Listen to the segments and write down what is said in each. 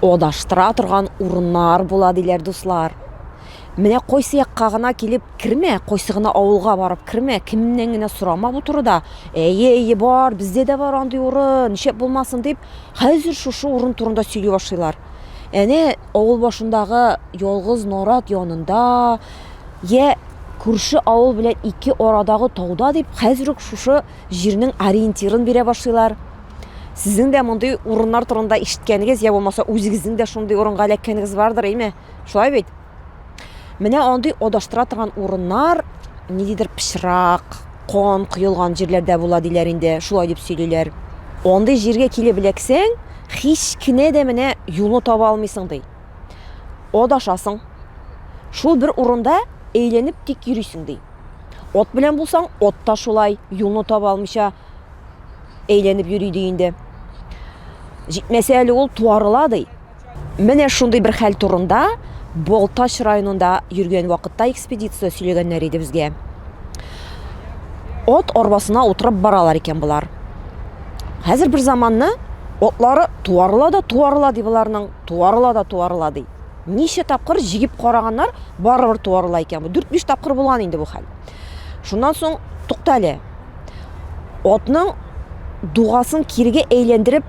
адаштыра торган урыннар була, диләр дуслар. Менә кайсы якка гына килеп кермә, кайсы гына авылга барып кермә, кемнән генә сорама бу турыда. Әйе, әйе, бар, бездә дә бар андый урын, нишләп булмасын дип, хәзер шушы урын турында сөйли башлыйлар. Әнә авыл башындагы ялгыз нарат янында, я күрше авыл белән ике арадагы тауда дип, хәзер үк шушы җирнең ориентирын бирә башлыйлар. Сезнең дә мондый урыннар турында ишеткәнегез я булмаса үзегезнең дә шундый урынга эләккәнегез бардыр, әйме? Шулай бит? Менә андый адаштыра торган урыннар ниндидер пычрак, кан коелган җирләрдә була диләр инде, шулай дип сөйлиләр. Андый җиргә килеп эләксәң, һич кенә дә менә юлны таба алмыйсың ди. Адашасың. Шул бер урында әйләнеп тик йөрисең ди. Ат белән булсаң, ат та шулай, юлны таба алмыйча әйләнеп йөри ди инде. Җитмәсә әле ул туарыла ди. Менә шундый бер хәл турында Балтач районында йөргән вакытта экспедиция сөйләгәннәр иде безгә. От арбасына утырып баралар икән болар. Хәзер бер заманны отлары туарыла да туарыла ди боларның, туарыла да туарыла ди. Ничә тапкыр җигеп караганнар, барыбер туарыла икән бу. 4-5 тапкыр булган инде бу хәл. Шуннан соң туктале. Атның дугасын кирегә әйләндереп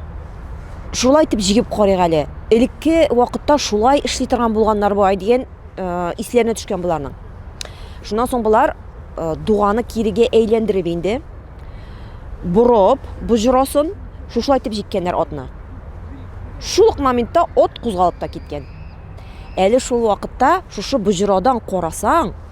шулай итеп җигеп карыйк әле. Элекке вакытта шулай эшли торган булганнар бай дигән э, исләренә төшкән боларның. Шуннан соң болар э, дуганы кирегә әйләндереп инде борып, боҗрасын шушылай итеп җиккәннәр атны. Шул ук моментта от кузгалып та киткән. Әле шул вакытта шушы боҗрадан карасаң,